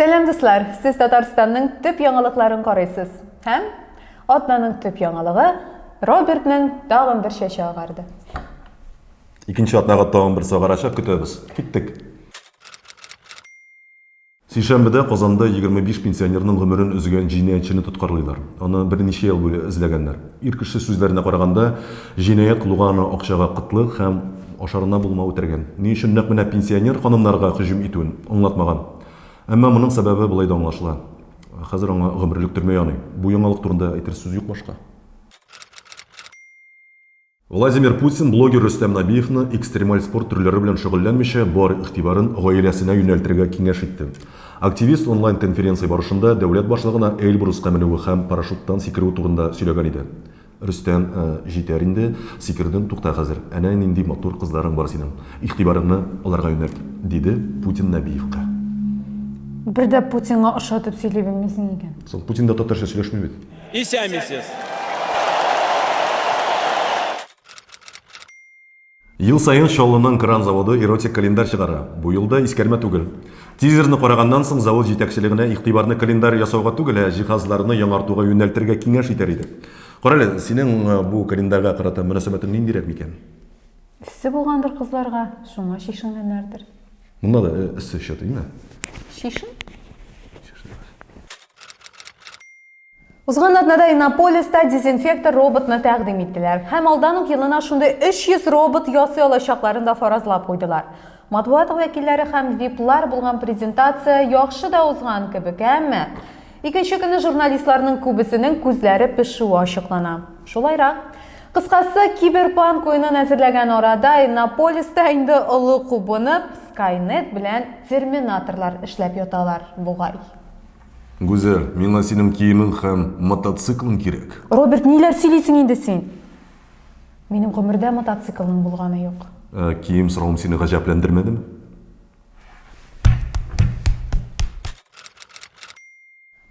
Сәлам дуслар! Сез Татарстанның төп яңалыкларын карыйсыз. Һәм атнаның төп яңалыгы Робертның тагын бер чәче агарды. Икенче атнага тагын бер сагарача көтәбез. Киттек. Сишәмбедә Казанда егерме биш пенсионерның гомерен өзгән җинаятьчене тоткарлыйлар. Аны берничә ел буе эзләгәннәр. Ир кеше сүзләренә караганда, җинаять кылуга аны акчага кытлык һәм ашарына булмау этәргән. Ни өчен нәкъ менә пенсионер ханымнарга һөҗүм итүен аңлатмаган. Әмма моның сәбәбе болай да аңлашыла, хәзер аңа гомерлек төрмә яный. Бу яңалык турында әйтер сүз юк башка. Владимир Путин блогер Рөстәм Нәбиевны экстремаль спорт төрләре белән шөгыльләнмичә, бар игътибарын гаиләсенә юнәлтергә киңәш итте. Активист онлайн-конференция барышында дәүләт башлыгына Эльбруска менүе һәм парашюттан сикерүе турында сөйләгән иде. Рөстәм, Җитәр инде, сикердең, тукта хәзер. Әнә нинди матур кызларың бар синең. Игътибарыңны аларга юнәлт, диде Путин Нәбиевка. Бер дә Путинга ошатып сөйли белмисең икән. Соң Путин да татарча сөйләшми бит. Исәмисез! Ел саен Чаллының кран заводы эротик календарь чыгара. Бу ел да искәрмә түгел. Тизерны караганнан соң завод җитәкчелегенә игътибарны календарь ясауга түгел, ә җиһазларны яңартуга юнәлтергә киңәш итәр идек. Карале, синең бу календарьга карата мөнәсәбәтең ниндирәк микән? Эссе булгандыр кызларга, шуңа чишенгәннәрдер. Монда да эссе чатыймы? Чишен. Узган атнада Иннополиста дезинфектор роботны тәкъдим иттеләр һәм алдан ук елына шундый 300 робот ясый алачакларын да фаразлап куйдылар. Матбугат вәкилләре һәм виплар булган презентация яхшы да узган кебек, әмма икенче көнне журналистларның күбесенең күзләре пешүе ачыклана. Шулайрак, кыскасы, киберпанк уенын әзерләгән арада Иннополиста инде олы кубынып, Skynet белән терминаторлар эшләп яталар бугай. Гүзәл, миңа синең киемең һәм мотоциклың кирәк. Роберт, ниләр сөйлисең инде син? Минем гомердә мотоциклның булганы юк. Ә, кием соравым сине гаҗәпләндермәдеме?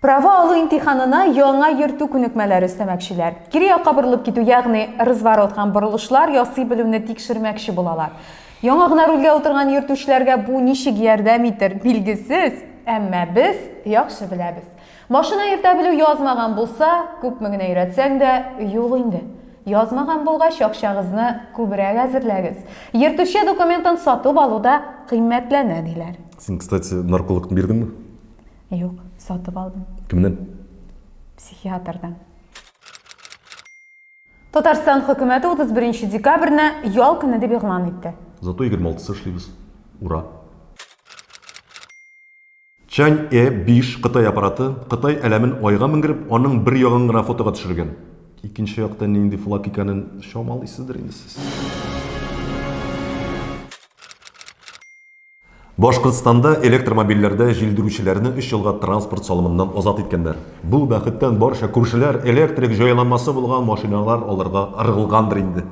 Права алу имтиханына яңа йөртү күнекмәләре өстәмәкчеләр. Кире якка борылып китү, ягъни разворот һәм борылышлар ясый белүне тикшермәкче булалар. Яңа гына рульгә утырган йөртүчеләргә бу ничек ярдәм итер, билгесез, әмма без яхшы беләбез. Машина йөртә белү язмаган булса, күпме генә өйрәтсәң дә, юк инде. Язмаган булгач, акчагызны күбрәк әзерләгез. Йөртүче документын сатып алу да кыйммәтләнә, диләр. Син, кстати, наркологны бирдеңме? Юк, сатып алдым. Кемнән? Психиатрдан. Татарстан хөкүмәте 31 декабрьне ял көне дип игълан итте. Зато 26-сы эшлибез. Ура! Чань Э 5 Кытай аппараты Кытай әләмен айга менгереп, аның бер ягын гына фотога төшергән. Икенче якта нинди флаг икәнен чамалыйсыздыр инде сез. Башкортстанда электромобильләрдә җилдерүчеләрне өч елга транспорт салымыннан азат иткәннәр. Бу бәхеттән барча күршеләр электрик җайланмасы булган машиналар алырга ыргылгандыр инде.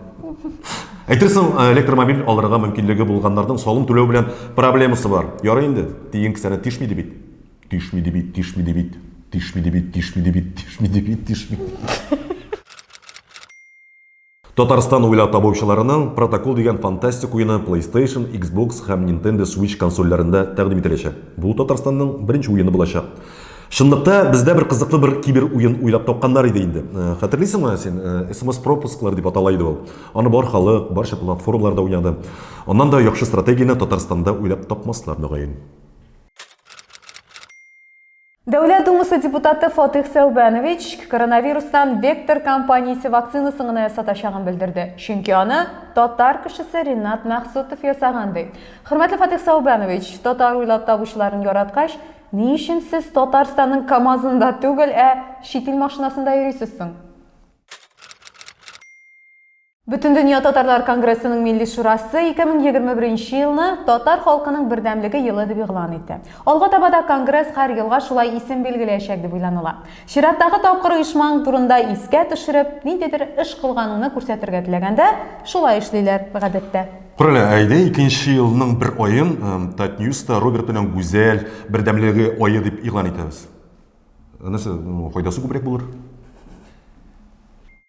Әйтерсең, электромобиль алырга мөмкинлеге булганнарның салым түләү белән проблемасы бар. Ярый инде, тиен кесәне тишми ди бит. Тишми ди бит, тишми ди бит. Тишми ди бит, тишми ди бит, тишми ди бит, тишми. Татарстан уйлап табучыларының Протокол дигән фантастик уены PlayStation, Xbox һәм Nintendo Switch консольләрендә тәкъдим ителәчәк. Бу Татарстанның беренче уены булачак. Чынлыкта, бездә бер кызыклы бер кибер уен уйлап тапканнар иде инде. Хәтерлисеңме син, SMS-пропусклар дип атала иде ул. Аны бар халык, барча платформаларда уйнады. Аннан да яхшы стратегияне Татарстанда уйлап тапмаслар, мөгаен. Дәүләт Думасы депутаты Фатих Сәүбәнович коронавирустан Вектор компаниясе вакцинасын гына ясатачагын белдерде, чөнки аны татар кешесе Ринат Мәхсутов ясаган ди. Хөрмәтле Фатих Сәүбәнович, татар уйлап табучыларын яраткач, ни өчен сез Татарстанның КАМАЗында түгел, ә чит ил машинасында йөрисез соң? Бөтендөнья татарлар конгрессының Милли шурасы 2021 нче елны Татар халкының бердәмлеге елы дип игълан итте. Алга таба да конгресс һәр елга шулай исем билгеләячәк дип уйланыла. Чираттагы тапкыр оешмаң турында искә төшереп, ниндидер эш кылганыңны күрсәтергә теләгәндә, шулай эшлиләр, гадәттә. Күрәле, әйдә икенче елның бер аен Татньюста Роберт белән Гүзәл бердәмлеге ае дип игълан итәбез. Нәрсә, файдасы күбрәк булыр.